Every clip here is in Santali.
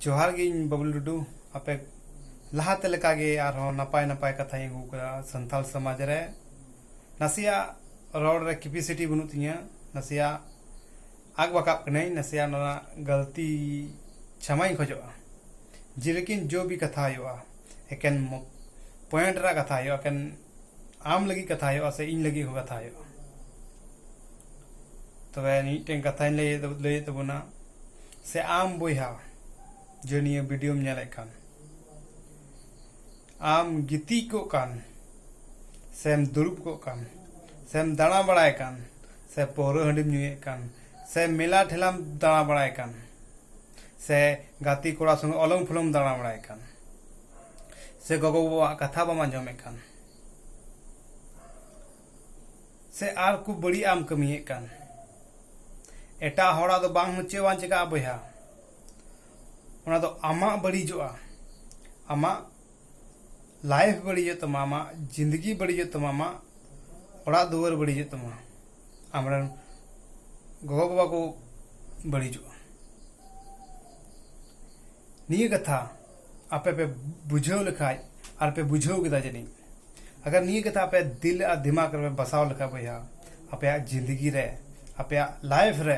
ᱡᱚᱦᱟᱨ ᱜᱮ ᱤᱧ ᱵᱟᱵᱞᱩ ᱴᱩᱰᱩ ᱟᱯᱮ ᱞᱟᱦᱟᱛᱮ ᱞᱮᱠᱟᱜᱮ ᱟᱨᱦᱚᱸ ᱱᱟᱯᱟᱭ ᱱᱟᱯᱟᱭ ᱠᱟᱛᱷᱟᱧ ᱟᱹᱜᱩ ᱠᱟᱫᱟ ᱥᱟᱱᱛᱟᱲ ᱥᱚᱢᱟᱡᱽ ᱨᱮ ᱱᱟᱥᱮᱭᱟᱜ ᱨᱚᱲ ᱨᱮ ᱠᱮᱯᱤᱥᱤᱴᱤ ᱵᱟᱹᱱᱩᱜ ᱛᱤᱧᱟᱹ ᱱᱟᱥᱮᱭᱟᱜ ᱟᱜ ᱵᱟᱠᱟᱵ ᱠᱟᱹᱱᱟᱹᱧ ᱱᱟᱥᱮᱭᱟᱜ ᱚᱱᱟ ᱜᱟᱹᱞᱛᱤ ᱪᱷᱟᱢᱟᱧ ᱠᱷᱚᱡᱚᱜᱼᱟ ᱡᱮᱞᱮᱠᱤᱱ ᱡᱚ ᱵᱤ ᱠᱟᱛᱷᱟ ᱦᱩᱭᱩᱜᱼᱟ ᱮᱠᱮᱱ ᱯᱚᱭᱮᱱᱴ ᱨᱮᱭᱟᱜ ᱠᱟᱛᱷᱟ ᱦᱩᱭᱩᱜᱼᱟ ᱮᱠᱮᱱ ᱟᱢ ᱞᱟᱹᱜᱤᱫ ᱠᱟᱛᱷᱟ ᱦᱩᱭᱩᱜᱼᱟ ᱥᱮ ᱤᱧ ᱞᱟᱹᱜᱤᱫ ᱦᱚᱸ ᱠᱟᱛᱷᱟ ᱦᱩᱭᱩᱜᱼᱟ ᱛᱚᱵᱮ ᱢᱤᱫᱴᱮᱱ ᱠᱟᱛᱷᱟᱧ ᱞᱟᱹᱭ ᱞᱟᱹᱭᱮᱫ ᱛᱟᱵᱚᱱᱟ ᱥᱮ ᱟᱢ ᱵᱚᱭᱦᱟ ᱡᱮ ᱱᱤᱭᱟᱹ ᱵᱷᱤᱰᱤᱭᱳᱢ ᱧᱮᱞᱮᱫ ᱠᱟᱱ ᱟᱢ ᱜᱤᱛᱤᱡ ᱠᱚᱜ ᱠᱟᱱ ᱥᱮᱢ ᱫᱩᱲᱩᱵ ᱠᱚᱜ ᱠᱟᱱ ᱥᱮᱢ ᱫᱟᱬᱟ ᱵᱟᱲᱟᱭ ᱠᱟᱱ ᱥᱮ ᱯᱟᱹᱣᱨᱟᱹ ᱦᱟᱺᱰᱤᱢ ᱧᱩᱭᱮᱫ ᱠᱟᱱ ᱥᱮ ᱢᱮᱞᱟ ᱴᱷᱮᱞᱟᱢ ᱫᱟᱬᱟ ᱵᱟᱲᱟᱭ ᱠᱟᱱ ᱥᱮ ᱜᱟᱛᱮ ᱠᱚᱲᱟ ᱥᱚᱸᱜᱮ ᱚᱞᱚᱢ ᱯᱷᱚᱞᱚᱢ ᱫᱟᱬᱟ ᱵᱟᱲᱟᱭ ᱠᱟᱱ ᱥᱮ ᱜᱚᱜᱚ ᱵᱟᱵᱟᱣᱟᱜ ᱠᱟᱛᱷᱟ ᱵᱟᱢ ᱟᱸᱡᱚᱢᱮᱫ ᱠᱟᱱ ᱥᱮ ᱟᱨ ᱠᱚ ᱵᱟᱹᱲᱤᱡ ᱟᱢ ᱠᱟᱹᱢᱤᱭᱮᱫ ᱠᱟᱱ ᱮᱴᱟᱜ ᱦᱚᱲᱟᱜ ᱫᱚ ᱵᱟᱝ ᱪᱮᱫ ᱵᱟᱝ ᱪᱤᱠᱟᱹᱜᱼᱟ ᱵᱚᱭᱦᱟ ᱚᱱᱟ ᱫᱚ ᱟᱢᱟᱜ ᱵᱟᱹᱲᱤᱡᱚᱜᱼᱟ ᱟᱢᱟᱜ ᱞᱟᱭᱤᱯᱷ ᱵᱟᱹᱲᱤᱡᱚᱜ ᱛᱟᱢᱟ ᱟᱢᱟᱜ ᱡᱤᱱᱫᱮᱜᱤ ᱵᱟᱹᱲᱤᱡᱚᱜ ᱛᱟᱢᱟ ᱟᱢᱟᱜ ᱚᱲᱟᱜ ᱫᱩᱣᱟᱹᱨ ᱵᱟᱹᱲᱤᱡᱚᱜ ᱛᱟᱢᱟ ᱟᱢᱨᱮᱱ ᱜᱚᱜᱚ ᱵᱟᱵᱟ ᱠᱚ ᱵᱟᱹᱲᱤᱡᱚᱜᱼᱟ ᱱᱤᱭᱟᱹ ᱠᱟᱛᱷᱟ ᱟᱯᱮ ᱯᱮ ᱵᱩᱡᱷᱟᱹᱣ ᱞᱮᱠᱷᱟᱡ ᱟᱨ ᱯᱮ ᱵᱩᱡᱷᱟᱹᱣ ᱠᱮᱫᱟ ᱡᱟᱹᱱᱤᱡ ᱟᱜᱟᱨ ᱱᱤᱭᱟᱹ ᱠᱟᱛᱷᱟ ᱟᱯᱮ ᱫᱤᱞ ᱟᱨ ᱫᱤᱢᱟᱜᱽ ᱨᱮᱯᱮ ᱵᱟᱥᱟᱣ ᱞᱮᱠᱷᱟᱡ ᱵᱚᱭᱦᱟ ᱟᱯᱮᱭᱟᱜ ᱡᱤᱱᱫᱮᱜᱤ ᱨᱮ ᱟᱯᱮᱭᱟᱜ ᱞᱟᱭᱤᱯᱷ ᱨᱮ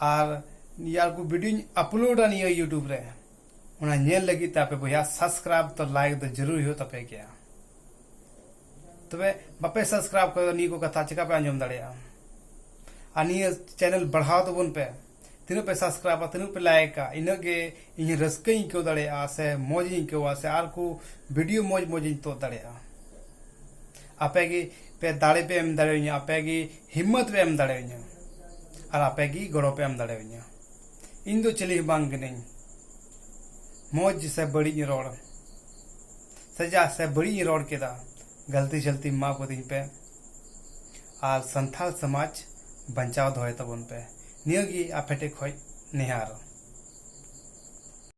ᱟᱨ ᱱᱤᱭᱟᱹ ᱠᱚ ᱵᱷᱤᱰᱤᱭᱳᱧ ᱟᱯᱞᱳᱰᱟ ᱱᱤᱭᱟᱹ ᱤᱭᱩᱴᱩᱵᱽ ᱨᱮ ᱚᱱᱟ ᱧᱮᱞ ᱞᱟᱹᱜᱤᱫ ᱛᱮ ᱟᱯᱮ ᱵᱚᱭᱦᱟ ᱥᱟᱵᱥᱠᱨᱟᱭᱤᱵ ᱛᱚ ᱞᱟᱭᱤᱠ ᱫᱚ ᱡᱟᱹᱨᱩᱲ ᱦᱩᱭᱩᱜ ᱛᱟᱯᱮ ᱜᱮᱭᱟ ᱛᱚᱵᱮ ᱵᱟᱯᱮ ᱥᱟᱵᱥᱠᱨᱟᱭᱤᱵ ᱠᱷᱟᱱ ᱱᱤᱭᱟᱹ ᱠᱚ ᱠᱟᱛᱷᱟ ᱪᱮᱠᱟ ᱯᱮ ᱟᱸᱡᱚᱢ ᱫᱟᱲᱮᱭᱟᱜᱼᱟ ᱟᱨ ᱱᱤᱭᱟᱹ ᱪᱮᱱᱮᱞ ᱵᱟᱲᱦᱟᱣ ᱛᱟᱵᱚᱱ ᱯᱮ ᱛᱤᱱᱟᱹᱜ ᱯᱮ ᱥᱟᱵᱥᱠᱨᱟᱭᱤᱵᱟ ᱛᱤᱱᱟᱹᱜ ᱯᱮ ᱞᱟᱭᱤᱠᱟ ᱤᱱᱟᱹᱜ ᱜᱮ ᱤᱧ ᱨᱟᱹᱥᱠᱟᱹᱧ ᱟᱹᱭᱠᱟᱹᱣ ᱫᱟᱲᱮᱭᱟᱜᱼᱟ ᱥᱮ ᱢᱚᱡᱽ ᱤᱧ ᱟᱹᱭᱠᱟᱹᱣᱟ ᱥᱮ ᱟᱨ ᱠᱚ ᱵᱷᱤᱰᱤᱭᱳ ᱢᱚᱡᱽ ᱢᱚᱡᱽ ᱤᱧ ᱛᱩᱫ ᱫᱟᱲᱮᱭᱟᱜᱼᱟ ᱟᱯᱮ ᱜᱮ ᱯᱮ ᱫᱟᱲᱮ ᱯᱮ ᱮᱢ ᱫᱟᱲᱮᱣᱟᱹᱧᱟᱹ ᱟᱯᱮ ᱜᱮ ᱦᱤᱢᱢᱟᱹᱛ ᱯᱮ ᱮᱢ ᱫᱟᱲᱮᱣᱟᱹᱧᱟᱹ ᱟᱨ ᱟᱯᱮ ᱜᱮ ᱜᱚᱲᱚ ᱯᱮ ᱮᱢ ᱫᱟᱲᱮᱣᱟᱹᱧᱟᱹ ᱤᱧ ᱫᱚ ᱪᱤᱞᱤ ᱦᱚᱸ ᱵᱟᱝ ᱠᱟᱹᱱᱟᱹᱧ ᱢᱚᱡᱽ ᱥᱮ ᱵᱟᱹᱲᱤᱡ ᱤᱧ ᱨᱚᱲ ᱥᱮ ᱡᱟ ᱥᱮ ᱵᱟᱹᱲᱤᱡ ᱤᱧ ᱨᱚᱲ ᱠᱮᱫᱟ ᱜᱟᱹᱞᱛᱤ ᱥᱟᱹᱞᱛᱤ ᱢᱟᱯ ᱠᱟᱹᱫᱤᱧ ᱯᱮ ᱟᱨ ᱥᱟᱱᱛᱟᱲ ᱥᱚᱢᱟᱡᱽ ᱵᱟᱧᱪᱟᱣ ᱫᱚᱦᱚᱭ ᱛᱟᱵᱚᱱ ᱯᱮ ᱱᱤᱭᱟᱹ ᱜᱮ ᱟᱯᱮ ᱴᱷᱮᱱ ᱠᱷᱚᱱ ᱱᱮᱦᱚᱨ